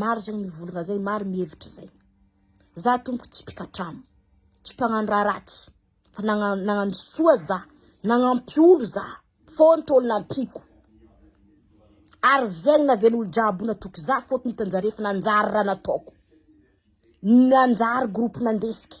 Maro zegny mivolagna zay, maro mihevitry zay. Za tompoko tsy mpikatramo, tsy mpagnano raha ratsy, fa nagnano soa za, nagnampy olo za, fôntro olo nampiako, ary zegny nahaviagny olo jiaby natoky za fôtony hitanjare fa nanjary raha nataoko, nanjary groupe nandesiky.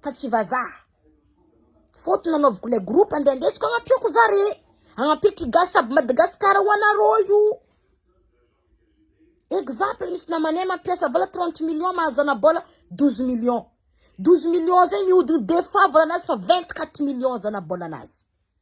fa tsy vazaha faute nanaoviko le groupe ande andesiko agnampiako zare agnampiako i gasy aby madagascar ho anareo io exemple misy namanay mampiasa vola trente millions mahazana bola douze millions douze millions zay mihodiny be favre anazy fa vingt quatre millions zana bola anazy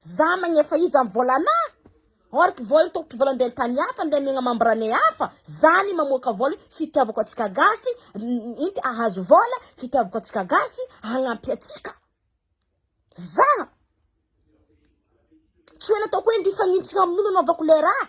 Za magnefa iza am vola ana? Or ky vola tokotry vola ndeha tany hafa ndeha megna membrane hafa za ny mamoaka vola fitiavako atsika gasy inty ahazo vola fitiavako atsika gasy hagnampy atsika za tsy hoe nataoko hoe ndifagnintsigna aminolo anaovako le raha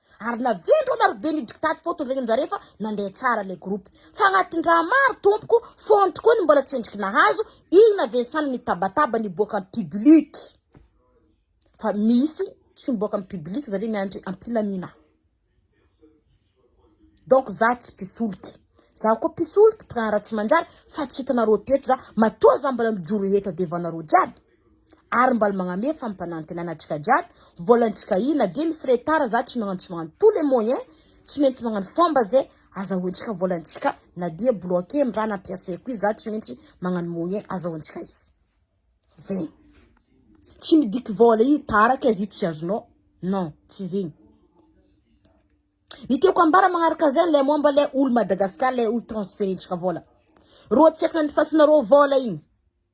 Ary na ventro ana ry be ny diktaty fô tondregny njare fa nandeha tsara le groupe. Fa agnatin-draha maro tompoko, fontry koa ny mbola tsendriky nahazo, igny na Vincent nitabataba niboaka am public. Fa misy tsy miboaka am public zare miandry ampilamina. Donc za tsy mpisoloky. Za koa mpisoloky mpiraharaha tsy manjary fa tsy hitanareo teto za matoa za mbola mijoro eto adevanareo jiaby. Ary mbal magname fampanantenana antsika jiaby, vola antsika io na dia misy retard za tsy magnano tsy magnano tout les moyens tsy maintsy magnano fomba ze azahoantsika vola antsika na dia bloquer ny raha nampiasaiko io za tsy maintsy magnano moyen azahoantsika izy zegny tsy midika vola io taraka izy io tsy azonao non tsy zegny ny tiako ambara magnaraka zegny le momba le olo Madagascar le olo transferentsika vola rô tsy akany fasinarô vola igny.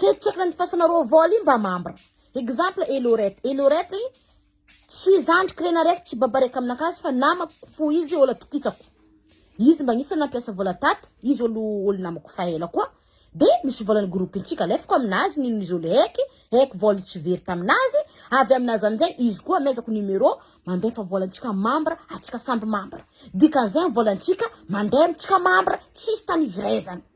Ketsaky ny fasana roa vol io mba membre. Exemple et Laurette. Et Laurette tsy zandriko rena raiky tsy baba raiky amina kasy fa namako fo izy olo atokisako. Izy mba anisany nampiasa vola tato, izy olo olo namako fa ela koa. De misy volany groupe ntsika alefako aminazy nino izy olo heky, heky vol tsy very taminazy, avy aminazy amizay izy koa amezako numero mandefa vola ntsika membre atsika samby membre. Dikany zay vola ntsika mande amitsika membre tsisy tanivrezana.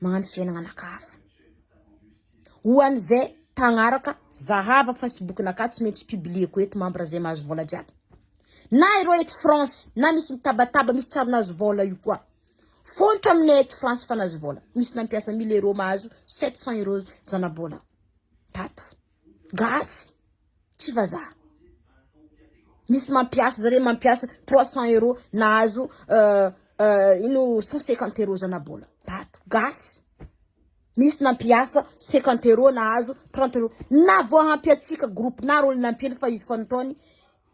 magnano fiainagna anaka hafa ho an'izay mpagnaraka zahava facebook naka tsy maintsy publieko eto membre zay mahazo vola jiaby na ireo eto France na misy mitabataba misy tsary nahazo vola io koa fontra aminay eto France fa nahazo vola misy nampiasa 1000 euros mahazo 700 euros zanabola tato gasy Tsy vazaha. Misy mampiasa zareo mampiasa trois cent euros nahazo ino cent cinquante euros zanabola tato gasy. Misy nampiasa cinquante euros nahazo trente euros. Na vao hampy antsika groupe na rôle nampiany fa izy fa nataony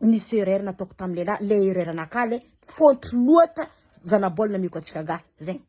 nisy erreur nataoko tamin'ny lehilahy le erreur anakahy le faute loatra zanabola nameko antsika gasy zegny.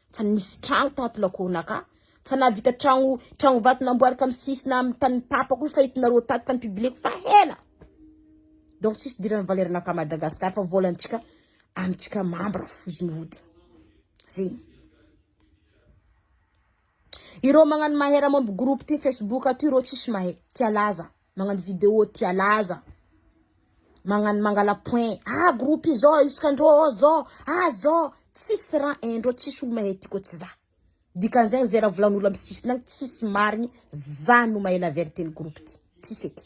Fa nisy tragno tato lakoronakà fa nahavita tragno tragno vato namboariko amin'ny sisina amin'ny tanin'ny papa koa fa hitonareo tato fa nipibileko fa hela donc tsisy hidiran'ny valernakà Madagascar fa volantsika amintsika mambra fo izy mihodina zegny ireo magnano mahery momba groupe ty facebook aty ireo tsisy mahay tsy alaza Magnano video tia laza. Magnano mangala point. Ah groupe izao isika ndrô ô zô. Ah zô. Tsisy raha hain drô tsisy olo mahay ty ko tsy za. Dikany zegny ze raha volan olo am sisiny agny tsisy marigny za no mahay la verite ny groupe ty. Tsisy eky.